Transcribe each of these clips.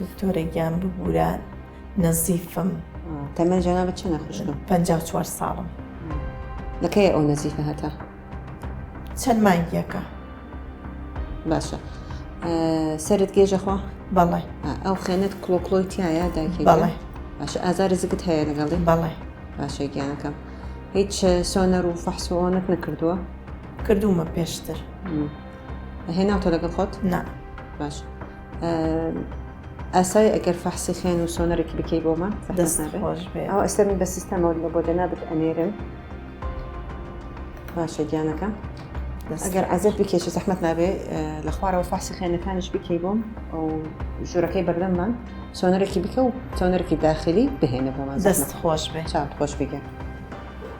دکتۆرە گیان ببورە نەزیفم تەمەن جانا بە چەنە خوشکم پ چوار ساڵم لەکەی ئەو نەزیفە هەتا چەند مانگیەکە باشە سرت گێژەخوا بەڵێ ئەو خێنێت کلۆکلۆی تایە داکی بەڵێ باشە ئازاری زگت هەیە لەگەڵی بەڵێ باشە گیانەکەم هیچ سۆنەر و فەحسۆنت نەکردووە کردومە پێشتر هێناوتە لەگەڵ خۆت نا باش ئاسای ئەگەر فەحسی خوێن و سۆنەرێکی بکەی بۆ من دەست خۆش بێ ئەو ئەستا من بە سیستەمەوە لە بۆ دەنابێت ئەنێرم باشە گیانەکە ئەگەر عزت بکێکی زەحمت نابێ لە خوارەوە فاسی خێنەکانش بکەی بۆم ئەو ژورەکەی بەردەممان سۆنەرێکی بکە و سۆنەرێکی داخلی بهێنە بۆمان دەست خۆش بێ چاند خۆش بگەن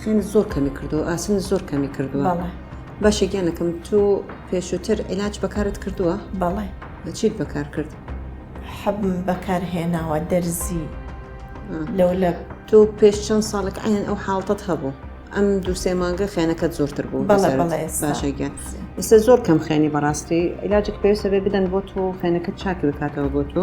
خوێنت زۆر کەمی کردو ئاسن زۆر کەمی کردووە بەڵێ باشە گیانەکەم تۆ پێشووتر علاج بەکارت کردووە بەڵێ چیت بەکار کرد حەب بەکار هێناوە دەرزی لەو لە تۆ پێش چەند ساڵێک عین ئەو حاڵتت هەبوو ئەم دوو سێ مانگە خێنەکەت زۆرتر بوو بەڵێ بەڵێ ئێستا. باشە گیان ئێستا زۆر کەم خێنی بەڕاستی علاجێک پێویستە بێ بدەن بۆ تۆ خێنەکەت چاکی بکاتەوە بۆ تۆ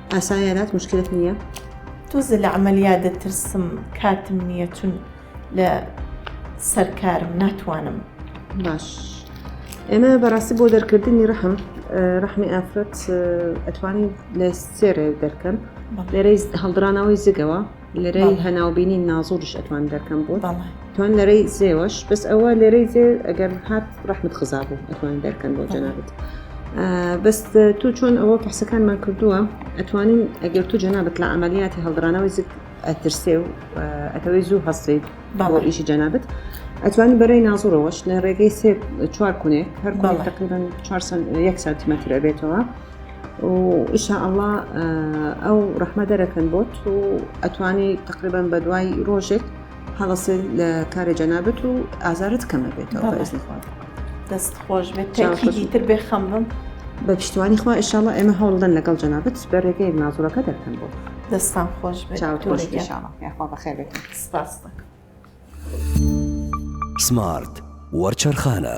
ئاسایە لات مشکلت نییە؟ تۆزێ لە عملیات دەترسم کاتم نییە چون لە سەر کارم ناتوانم باش ئێمە بەڕاستی بۆ دەرکردنی ڕەحم ڕەحمی ئافرەت ئەتوانی لە سێرێ دەرکەن لێرەی هەڵدرانەوەی زگەوە لەرەی هەناوبینی نازوریش ئەتوان دەرکەم بۆت توان لەرەی زێوەش بەس ئەوە لەرەی زێ ئەگەر هات ڕحمت خزا بوو ئەتوان دەرکەن بۆ جەنابەت بەست تۆ چۆن ئەوە پحسەکانمان کردووە ئەتوانین ئەگەر تو جەنابەت لە ئەعملیاتی هەڵدرانەوەی زت ئەترسێ و ئەتەوەی زوو هەستیت باوە ئیشی جەنابەت ئەتوانی بەرەی نازڕەوەش لە ڕێگەی سێ چوار کونێ هەر تقریبان یەک سانتیمەتر ئەبێتەوە و ان شاء اللە ئەو ڕەحمە دەرەکەن بۆت و ئەتوانی تقریبان بە دوای ڕۆژێک هەڵەسێ لە کارە جەنابەت و ئازارت کەمە بێتەوە بەزنخوات دەست خۆش بێت تاکیدی تر بێ خەم بم بە پشتوانی خوا ئشاڵە ئێمە هەوڵدەن لەگەڵ جەنابەت بە ڕێگەی نازوڕەکە دەکەن بۆ دەستان خۆش بێت چاوت خۆش بێت یاخوا بەخێر بێت سپاس دەکەم سمارت وەرچەرخانە